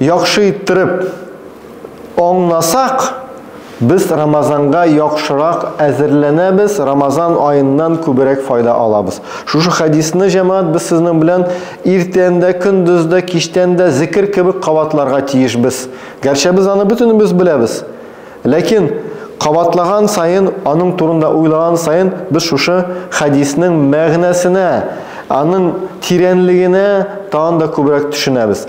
Яхшы иттереп аңласак, без Рамазанга яхшырак әзерләнәбез, Рамазан аеннан күберәк файда алабыз. Шушы хәдисне, җәмәгать, без сезнең белән иртән дә, көндез дә, кичтән дә зекер кебек кабатларга тиешбез. Гәрчә без аны бөтенебез беләбез. Ләкин кабатлаган саен, аның турында уйлаган саен, без шушы хәдиснең мәгънәсенә, аның тирәнлегенә тагын да күбрәк төшенәбез.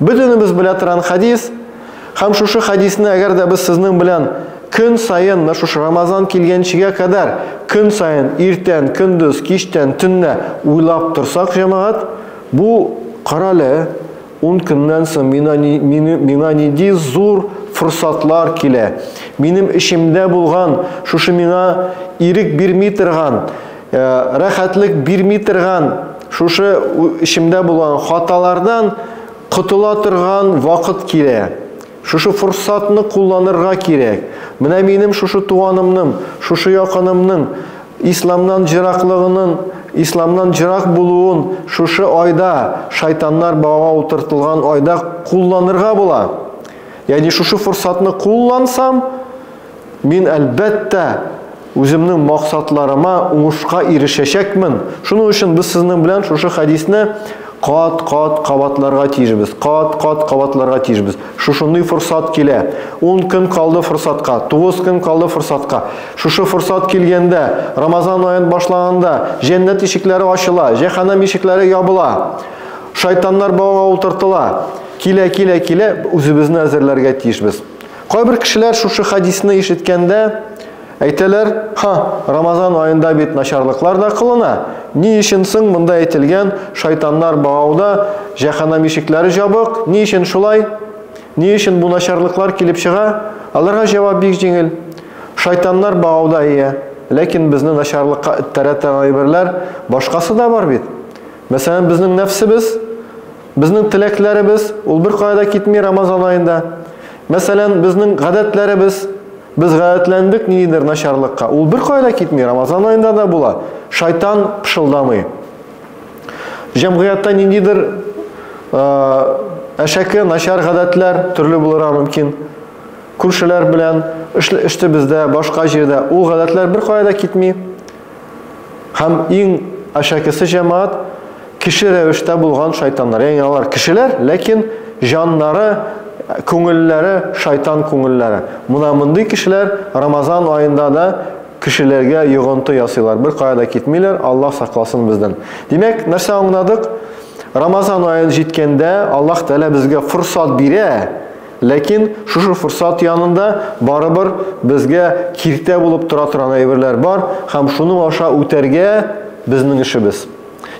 Бөтенебез белә торган хадис, һәм шушы хадисне әгәр дә без сезнең белән көн саен, менә шушы Рамазан килгәнчегә кадәр көн саен иртән, көндез, кичтән, төнлә уйлап торсак, җәмәгать, бу карале 10 көннән соң мина мина ниди зур форсатлар килә. Минем эчемдә булган, шушы миңа ирек бирми торган Э, рәхәтлек бирми торган шушы эчемдә булган хаталардан котыла торган вакыт килә шушы форсатны кулланырга кирәк менә минем шушы туганымның шушы якынымның исламнан җыраклыгының исламнан җырак булуын шушы айда шайтаннар бауга утыртылган айда кулланырга була ягъни шушы форсатны куллансам Мин, әлбәттә, үземнең максатларыма уңышка ирешәчәкмен. Шуның өчен без сезнең белән шушы хәдисне кат-кат кабатларга тиешбез. Кат-кат кабатларга тиешбез. Шушындый форсат килә. 10 көн калды форсатка, 9 көн калды форсатка. Шушы форсат килгәндә, Рамазан аен башлаганда, җәннәт ишекләре ачыла, җәһәннәм ишекләре ябыла. Шайтаннар бауга утыртыла. Килә, килә, килә, үзебезне әзерләргә тиешбез. Кайбер кешеләр шушы хадисны ишеткәндә әйтәләр, ха, Рамазан аенда бит начарлыклар да кылына, ни өчен соң монда әйтелгән шайтаннар багауда, җәһәннәм ишекләре җабык, ни өчен шулай? Ни өчен бу начарлыклар килеп чыга? Аларга җавап бик җиңел. Шайтаннар багауда ия, ләкин безне начарлыкка эттерә торган әйберләр башкасы да бар бит. Мәсәлән, безнең нәфсебез, Безнең теләкләребез, ул беркая да китми Рамазан аенда. Мәсәлән, безнең гадәтләребез, без гадәтләндек ниндидер начарлыкка. Ул беркая да китми, Рамазан аенда да була. Шайтан пышылдамый. Җәмгыятьтә ниндидер әшәке, начар гадәтләр төрле булырга мөмкин. Күршеләр белән, эште бездә, башка җирдә. Ул гадәтләр беркая да китми. Һәм иң әшәкесе җәмәгать кеше рәвештә булган шайтаннар. Ягъни алар кешеләр, ләкин җаннары, күңелләре шайтан күңелләре. Мына мондый кешеләр Рамазан аенда да кешеләргә йогынты ясыйлар. Бер кая да китмиләр, Аллаһ сакласын бездән. Димәк, нәрсә аңладык? Рамазан аен җиткәндә Аллаһ Тәгалә безгә форсат бирә, Ләкин шушы форсат янында барыбер безгә киртә булып тора торган әйберләр бар һәм шуның аша үтәргә безнең эшебез.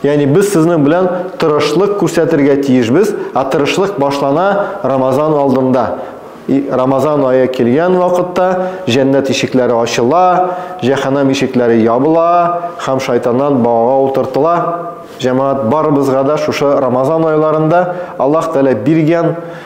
Ягъни без сезнең белән тырышлык күрсәтергә тиешбез, ә тырышлык башлана Рамазан алдында. И, Рамазан ае килгән вакытта җәннәт ишекләре ачыла, җәһәннәм ишекләре ябыла һәм шайтаннан багага утыртыла. Җәмәгать, барыбызга да шушы Рамазан айларында Аллаһ Тәгалә биргән